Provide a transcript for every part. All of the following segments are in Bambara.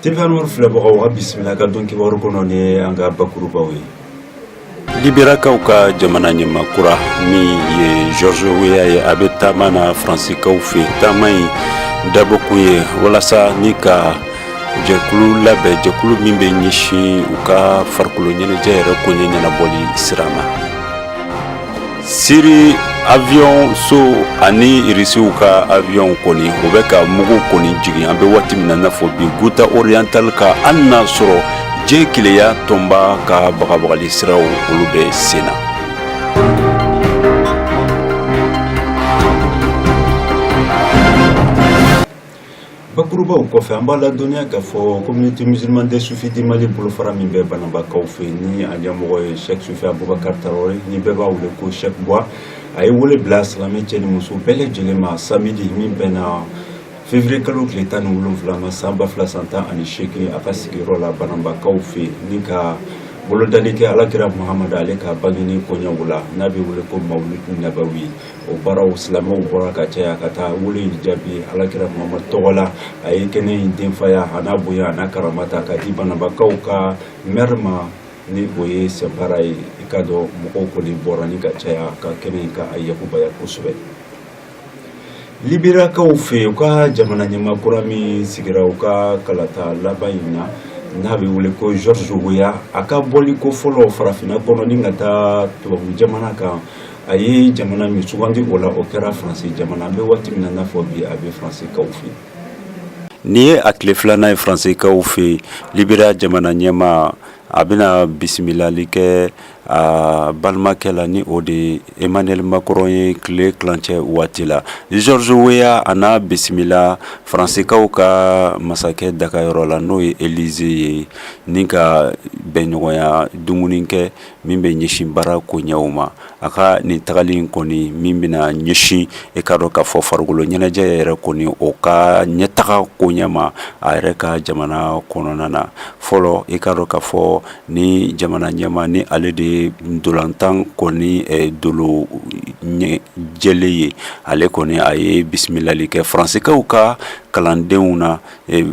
Tefɛnw filɛbagaw ka bisimila ka don kibaru kɔnɔ ni an ka bakurubaw ye libirakaw ka jamana ɲɛmaa kura min ye george weya ye a bɛ taama na faransikaw fɛ taama in dabɔkun ye walasa ni ka jɛkulu labɛn jɛkulu min bɛ ɲɛsin u ka farikolo ɲɛnajɛ yɛrɛ koɲɛ ɲɛnabɔli sira ma siri avion so ani irisiw ka avion kɔni o bɛ ka mugu kɔni jigin an bɛ waati min na n'a fɔ bi ghouta oriental kan hali n'a sɔrɔ diɲɛ kelenya tɔnba ka bagabagali siraw olu bɛ sen na bakurubaw kɔfɛ an b'a ladɔnniya k'a fɔ communauté musulmane des soufis du mali bolofara min bɛ bananbakaw fɛ ni a ɲɛmɔgɔ ye chek sufi abubakar tarawele ni bɛɛ b'a wele ko chek bwa a ye wele bila silamɛ cɛ ni muso bɛɛ lajɛlen ma samidi min bɛnna février kalo tile tan ni wolonfila ma san ba fila san tan ani seegin a ka sigiyɔrɔ la bananbakaw fɛ ni ka bolodali kɛ alakira muhamadu ale ka bangeni koɲɛw la n'a bɛ wele ko mawuludi nabawi o baaraw silamɛw bɔra ka caya ka taa wele in jaabi alakira muhamadu tɔgɔ la a ye kɛnɛ in denfaya a n'a bonya a n'a karama ta ka di bananbakaw ka mɛri ma ni o ye sinpara ye i k'a dɔn mɔgɔw kɔni bɔra ni ka caya ka kɛnɛ in ka a yakubaya kosɛbɛ libirakaw fɛ u ka jamana ɲɛmaa kura min sigira u ka kalata laban in na n'a bɛ wele ko george weya a ka bɔli ko fɔlɔ farafinna kɔnɔ ni ka taa tubabu jamana kan a ye jamana min sugandi o la o kɛra faransi jamana an bɛ waati min na n'a fɔ bi a bɛ faransikaw fɛ yen nin ye a tile filanan ye faransikaw fɛ yen liberiya jamana ɲɛmaa a bɛna bisimilali kɛ a balimakɛ la ni o de emmanuel macron ye tile tilancɛ waati la george weya a n'a bisimila faransikaw ka masakɛ dagayɔrɔ la n'o ye elize ye ni ka bɛnɲɔgɔnya dumuni kɛ min bɛ ɲɛsin baara koɲɛw ma a ka nin tagali in kɔni min bɛna ɲɛsin i k'a dɔn k'a fɔ farikolo ɲɛnajɛ yɛrɛ kɔni o ka ɲɛtaga koɲɛ ma a yɛrɛ ka jamana kɔnɔna na fɔlɔ i k'a dɔn k'a fɔ ni jamana ɲɛmaa nin ale de ye ntolatan kɔni dolo jɛlen ye ale kɔni a ye bisimilali kɛ faransikaw ka kalandenw na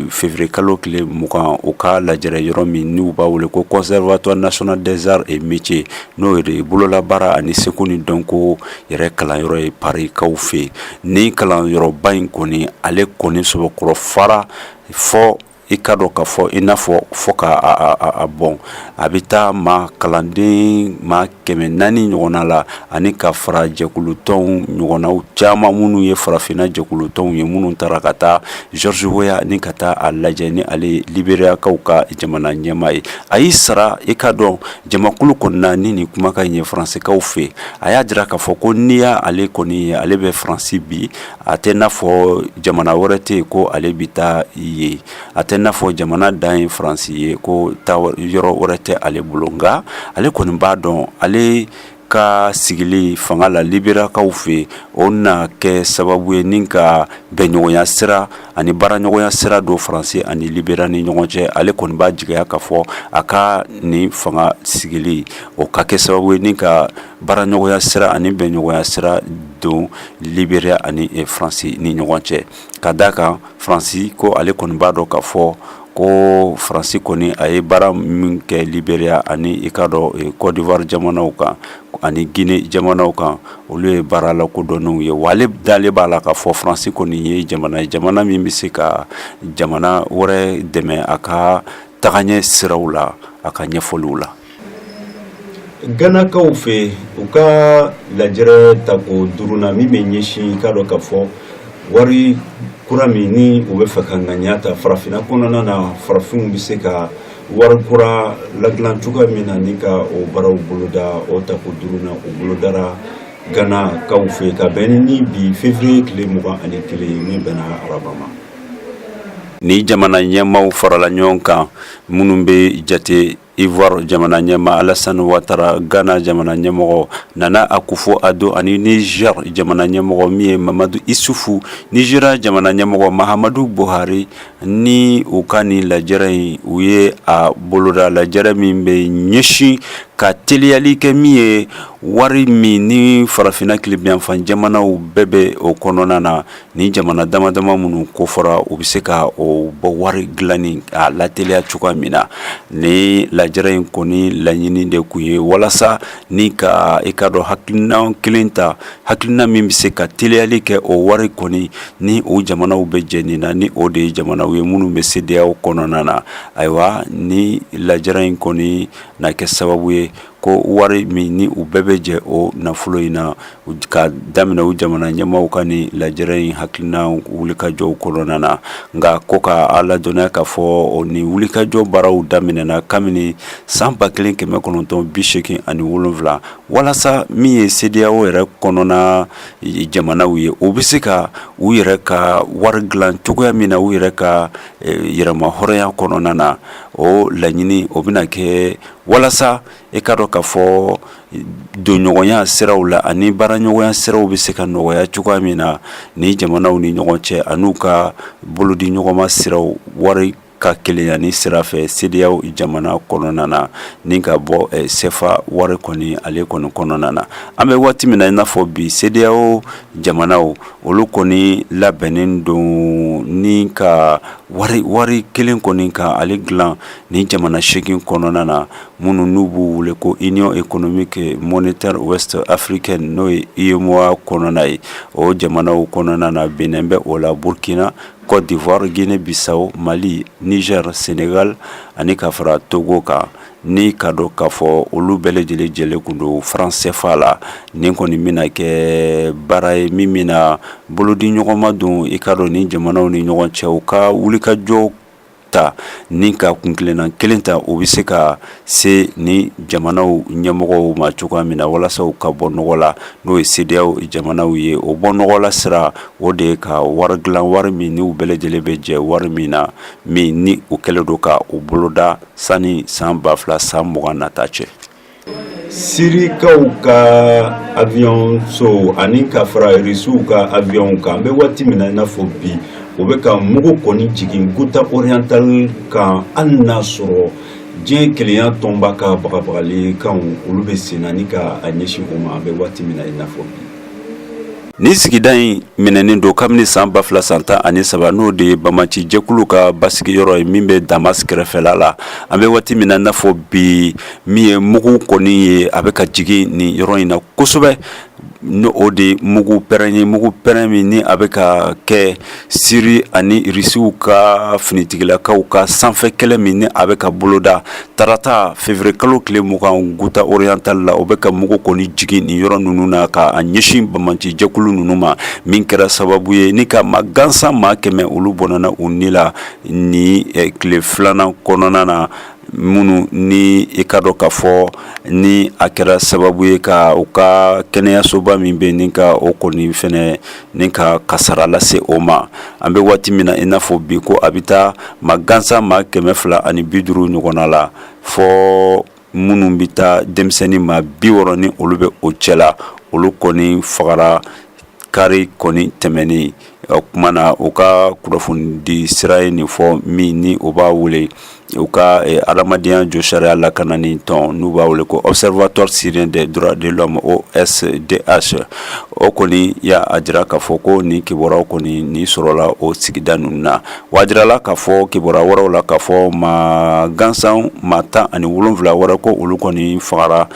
Fevrier kalo tile 20 u ka lajɛrɛ yɔrɔ min n'u b'a wele ko conservatoire national des arts et métiers n'o de ye bololabaara ani seko ni dɔnko yɛrɛ kalanyɔrɔ ye Paris kaw fɛ yen, nin kalanyɔrɔba in kɔni ale kɔni sɔbɛkɔrɔ fara fo i k'a dɔn k'a fɔ i n'a fɔ fo k'a bɔn a bɛ taa maa kalanden maa kɛmɛ naani ɲɔgɔnna la ani ka fara jɛkulutɔnw ɲɔgɔnnaw caman minnu ye farafinna jɛkulutɔnw ye minnu taara ka taa george weah ni ka taa a lajɛ ni ale ye liberiyakaw ka jamana ɲɛmaa ye a y'i sara i ka dɔn jamakulu kɔnɔna ni nin kumakan ye faransikaw fɛ a y'a jira k'a fɔ ko n'i y'ale kɔni ye ale bɛ faransi bi a tɛ n'a fɔ jamana wɛrɛ tɛ yen ko ale bɛ taa yen a tɛ n'a fɔ jamana dan ye faransi ye ko taayɔrɔ wɛrɛ tɛ ale bolo nka ale kɔni b'a dɔn ale ka sigili fanga la liberiyakaw fɛ o na kɛ sababu ye ni ka bɛnɲɔgɔnya sira ani baaraɲɔgɔnya sira don faransi ani liberiya ni ɲɔgɔn cɛ ale kɔni b'a jigiya k'a fɔ a ka nin fanga sigili o ka kɛ sababu ye ni ka baaraɲɔgɔnya sira ani bɛnɲɔgɔnya sira don liberiya ani faransi ni ɲɔgɔn cɛ ka da a kan faransi ko ale kɔni b'a dɔn k'a fɔ ko faransi kɔni a ye baara min kɛ liberiya ani i ka dɔn kɔdiwari jamanaw kan ani gine jamanaw kan olu ye baara lakodɔnnenw ye wa ale dalen b'a la k'a fɔ faransi kɔni ye jamana ye jamana min bɛ se ka jamana wɛrɛ dɛmɛ a ka tagaɲɛ siraw la a ka ɲɛfɔliw la Ganakaw fɛ u ka lajɛrɛ tako duurunan min bɛ ɲɛsin i ka dɔn k'a fɔ wari kura min ni u b'a fɛ ka ŋaniya ta farafinna kɔnɔna na farafinw bɛ se ka wari kura ladilan cogoya min na ni ka o baaraw boloda o tako duurunan o bolodara ganakaw fɛ ka bɛn ni bi fevriye tile mugan ani kelen min bɛnna araba ma ni jamana ɲɛmaaw farala ɲɔgɔn kan minnu bɛ jate Iwari jamana ɲɛmaa alasan watara gana jamana ɲɛmɔgɔ nana akufo ado ani nizɛri jamana ɲɛmɔgɔ min ye mamadu isufu nizeriya jamana ɲɛmɔgɔ mahamadu buhari ni u ka nin lajɛrɛ in u ye a boloda lajɛrɛ min bɛ ɲɛsin ka teliyali kɛ min ye wari min ni farafinna kilebiyanfan jamanaw bɛɛ bɛ o kɔnɔna na ni jamana dama dama minnu kofɔra u bɛ se ka o bɔ wari dilanni a lateliya cogoya min na ni lajɛrɛ in kɔni laɲini de tun ye walasa ni ka i ka dɔn hakilina kelen ta hakilina min bɛ se ka teliyali kɛ o wari kɔni ni o jamanaw bɛ jɛ nin na ni o de ye jamanaw ye minnu bɛ CEDEAO kɔnɔna na ayiwa ni lajɛrɛ in kɔni na kɛ sababu ye ko wari min ni u bɛɛ bɛ jɛ o nafolo in na ka daminɛ u jamana ɲɛmaaw ka nin lajɛrɛ in hakilina wulikajɔw kɔnɔna na nka ko ka a ladɔnniya k'a fɔ nin wulikajɔ baaraw daminɛna kabini san ba kelen kɛmɛ kɔnɔntɔn bi seegin ani wolonwula walasa min ye CEDEAO yɛrɛ kɔnɔna jamanaw ye o bɛ se ka u yɛrɛ ka wari dilan cogoya min na u yɛrɛ ka eh, yɛrɛmahɔrɔnya kɔnɔna na o laɲini o bɛna kɛ walasa e ka dɔn k'a fɔ donɲɔgɔnya siraw la ani baaraɲɔgɔnya siraw bɛ se ka nɔgɔya cogoya min na ni jamanaw ni ɲɔgɔn cɛ ani u ka bolodiɲɔgɔnma siraw wari ka kelenya ni sira fɛ CEDEAO jamana kɔnɔna na ni ka bɔ CFA wari kɔni ale kɔni kɔnɔna na an bɛ waati min na i n'a fɔ bi CEDEAO jamanaw olu kɔni labɛnnen don ni ka wari kelen kɔni ka ale dilan Nin jamana segin kɔnɔna na minnu n'u b'u wele ko Union économique monétaire ouest africaine n'o ye UEMOA kɔnɔna ye o jamanaw kɔnɔna na Bénin bɛ o la Burkina Côte d'Ivoire Guinée-Bissau Mali Niger Sénégal ani ka fara togo kan ni ka dɔn k'a fɔ olu bɛɛ lajɛlen jɛlen kun don franc CFA la nin kɔni bɛna kɛ baara ye min bɛna bolodiɲɔgɔnma don i ka dɔn ni jamanaw ni ɲɔgɔn cɛ u ka wulikajɔ ta ni ka kun kelenna kelen ta o bɛ se ka se ni jamanaw ɲɛmɔgɔw ma cogoya min na walasa u ka bɔ nɔgɔ la n'o ye CEDEAO jamanaw ye o bɔ nɔgɔ la sira o de ye ka wari dilan wari min n'u bɛɛ lajɛlen bɛ jɛ wari min na min ni u kɛlen don ka o boloda sani san ba fila san mugan nata cɛ sirikaw ka avion so ani ka fara irisiw ka avion kan an bɛ waati min na i n'a fɔ bi o bɛ ka mugu kɔni jigin guta oriental kan hali n'a sɔrɔ diɲɛ kelenya tɔnba ka bagabagalikanw olu bɛ sen na ni ka a ɲɛsin o ma an bɛ waati min na i n'a fɔ bi ni sigida in minɛnen don kabini san ba fila san tan ani saba n'o de ye bamatijɛkulu ka basigiyɔrɔ ye min bɛ Damas kɛrɛfɛla la an bɛ waati min na n'a fɔ bi min ye mugu kɔni ye a bɛ ka jigin ni yɔrɔ in na kosɛbɛ n'o de ye mugu pɛrɛn ye mugu pɛrɛn min ni a bɛ ka kɛ Siri ani irisiw ka finitigilakaw ka sanfɛ kɛlɛ min ni a bɛ ka boloda tarata février kalo tile mugan guta oriental la o bɛ ka mugu kɔni jigin nin yɔrɔ ninnu na k'a ɲɛsin bamatijɛkulu ninnu ma min kɛra sababu ye ni ka maa gansan maa kɛmɛ olu bɔnɛna u ni la ni tile filanan kɔnɔna na minnu ni i ka dɔn k'a fɔ ni a kɛra sababu ye ka u ka kɛnɛyasoba min bɛ ni ka o kɔni fɛnɛ ni ka kasara lase o ma an bɛ waati min na i n'a fɔ bi ko a bɛ taa maa gansan maa kɛmɛ fila ani bi duuru ɲɔgɔnna la fɔ minnu bɛ taa denmisɛnnin maa bi wɔɔrɔ ni olu bɛ o cɛ la olu kɔni fagara kari kɔni tɛmɛnen o tuma na u ka kunnafonidi sira ye nin fɔ min ni u b'a wele u ka adamadenya josariya lakanani tɔn n'u b'a wele ko observatoire syrien des droits de l'homme osdh o kɔni y'a jira k'a fɔ ko ni kibaruya kɔni ni sɔrɔla o sigida ninnu na wa a jirala k'a fɔ kibaruya wɛrɛw la k'a fɔ maa gansan maa tan ani wolonfila wɛrɛ ko olu kɔni fagara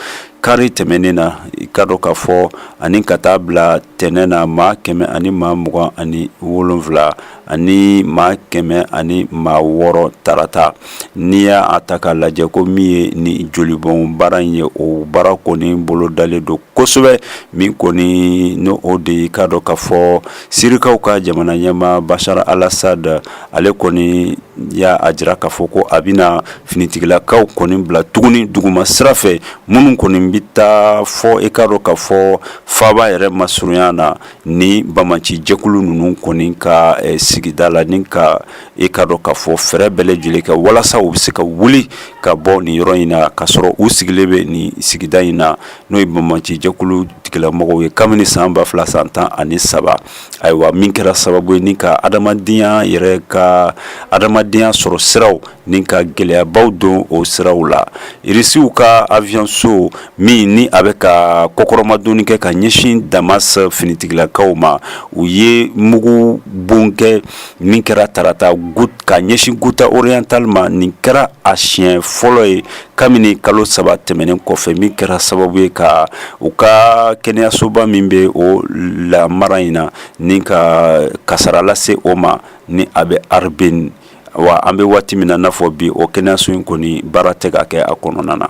kari tɛmɛnen na i k'a dɔn k'a fɔ ani ka taa bila tɛnɛ na maa kɛmɛ ani maa mugan ani wolonfila ani maa kɛmɛ ani maa wɔɔrɔ tarata n'i y'a ta k'a lajɛ ko min ye ni jolibɔn baara in ye o baara kɔni bolo dalen don kosɛbɛ min kɔni n'o de i k'a dɔn k'a fɔ sirikaw ka jamana ɲɛmaa bashar al-assad ale kɔni y'a jira k'a fɔ ko a bɛna finitigilakaw kɔni bila tuguni duguma sira fɛ minnu kɔni bɛ taa fɔ i k'a dɔn k'a fɔ faaba yɛrɛ masurunya na ni banbaanci jɛkulu ninnu kɔni ka eh, sigida la ni ka i k'a dɔn k'a fɔ fɛɛrɛ bɛɛ lajɛlen kɛ walasa u bɛ se ka wuli ka bɔ nin yɔrɔ in na k'a sɔrɔ u sigilen bɛ nin sigida in na n'o ye banbaanci jɛkulu tigilamɔgɔw ye kabini san ba fila san tan ani saba ayiwa min kɛra sababu ye ni ka adamadenya yɛrɛ ka adamadenya sɔrɔ siraw ni ka gɛlɛyabaw don o siraw la irisiw ka aviation min ni a bɛ ka kɔkɔrɔmadonni kɛ ka ɲɛsin damas finitigilakaw ma u ye mugu bon kɛ min kɛra tarata ka ɲɛsin ghouta orientale ma nin kɛra a siɲɛ fɔlɔ ye kabini kalo saba tɛmɛnen kɔfɛ min kɛra sababu ye ka u ka kɛnɛyasoba min bɛ o lamara in na ni ka kasara lase o ma ni a bɛ arbin wa an bɛ waati min na n'a fɔ bi o kɛnɛyaso in kɔni baara tɛ ka kɛ a kɔnɔna na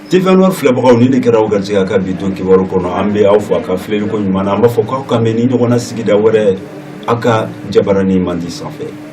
tefɛnwa filɛbagaw nin de kɛra aw garijɛgɛ ka bi to kibaru kɔnɔ an bɛ aw fo a ka filɛliko ɲuman na an b'a fɔ k'aw ka mɛn ni ɲɔgɔn na sigida wɛrɛ aw ka jabaranin mandi sanfɛ